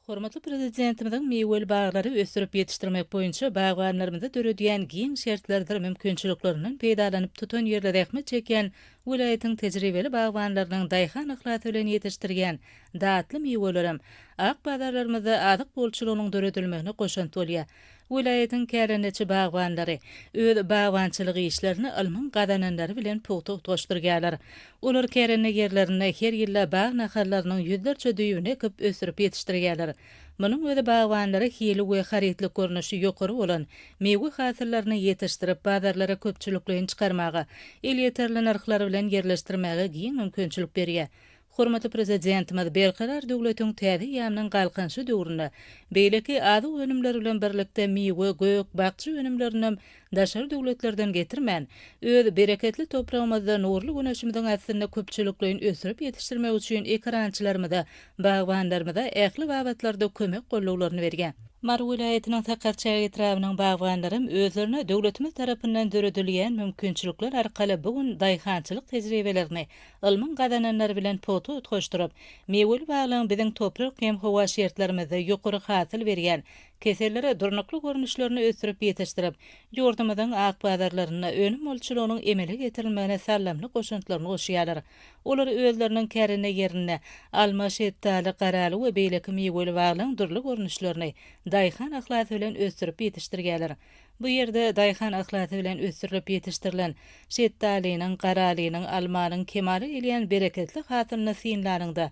Hormatly Prezidentimiziň miweli baglary ösdürip ýetişdirmek boýunça bagbanlarymyza döredýän giň şertlerdir mümkinçiliklerinden peýdalanyp tutan ýerli zähmet çekýän welaýatyň tejribeli bagbanlarynyň daýhan yhlasy bilen ýetişdirýän datly miwelerem ak bazarlarymyzda azyk bolçulygynyň döredilmegine goşant bolýar. Welaýatyň kärendeçi bagbanlary öz bagbançylyk işlerini ylmyň gazananlary bilen pugta utgaşdyrýarlar. Olar kärende ýerlerinde her ýylda bag nahallarynyň ýüzlerçe düýbüni ekip ösdürip ýetişdirýärler. Munuň özi bagbanlara hili we harytlyk görnüşi ýokary bolan miwe hasyllaryny ýetişdirip bazarlara köpçülikleýin çykarmaga, elýeterli nyrhlar bilen ýerleşdirmäge giň mümkinçilik berýär. Hormatly Prezidentimiz Berkarar döwletiň täze eýýamynyň Galkynyşy döwründe beýleki azyk önümleri bilen birlikde miwe, gök, bakja önümlerinem daşary döwletlerden getirmän, öz bereketli topragymyzda nurly güneşimiziň astynda köpçülikleýin ösdürip ýetişdirmek üçin ekerançylarymyza, bagbanlarymyza ähli babatlarda kömek gollaglaryny berýär. Mary welaýatynyň Sakarçäge etrabynyň bagbanlaram özlerine döwletimiz tarapyndan döredilýän mümkinçilikler arkaly bu gün daýhançylyk tejribelerini Ylmyň gazananlary bilen pugta utgaşdyryp, miweli baglaň biziň toprak hem howa şertlerimizde ýokary hasyl berýän, kesellere durnukly görnüşlerini ösdürip ýetişdirip, ýurdumyzyň ak bazarlarynda önüm bolçulygynyň emele getirilmegine saldamly goşantlaryny goşýarlar. Olar özleriniň kärende ýerinde alma, şetdaly, garaly we beýleki miweli baglaň dürli görnüşlerini daýhan yhlasy bilen ösdürip ýetişdirýärler. Bu ýerde daýhan yhlasy bilen ösdürilip ýetişdirilen şetdalynyň, garalynyň, almanyň kemala gelýän bereketli hasylyny synlanyňda,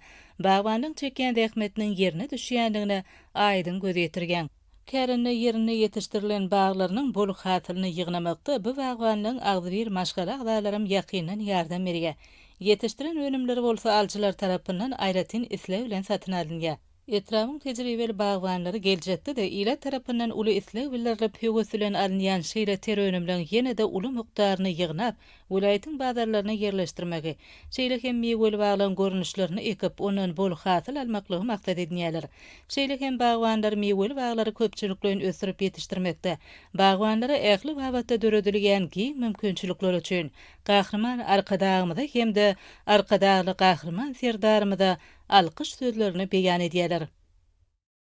bagbanyň çekýän zähmetiniň ýerine düşýändigine aýdyň göz ýetirýäň. Kärende ýerinde ýetişdirilen baglarynyň bol hasylyny ýygnamakda bu bagbanlaryň agzybir maşgala agzalaram ýakyndan ýardam berýär. Ýetişdiren önümleri bolsa alyjylar tarapyndan aýratyn isleg bilen satyn alynýar. Etrabyň tejribeli bagbanlary geljekde-de ilat tarapyndan uly isleg bildirilip, höwes bilen alynýan şeýle ter önümleň ýene-de uly mukdaryny ýygnap, welaýatyň bazarlaryna ýerleşdirmegi, şeýle hem miweli baglaryň görnüşlerini ekip, ondan bol hasyl almaklygy maksat edinýärler. Şeýle hem bagbanlar miweli baglary köpçülikleýin ösdürip ýetişdirmekde, bagbanlara ähli babatda döredilýän giň mümkinçilikler üçin Gahryman Arkadagymyza hem-de Arkadagly Gahryman Serdarymyza alkyş sözlerini beýan edýärler.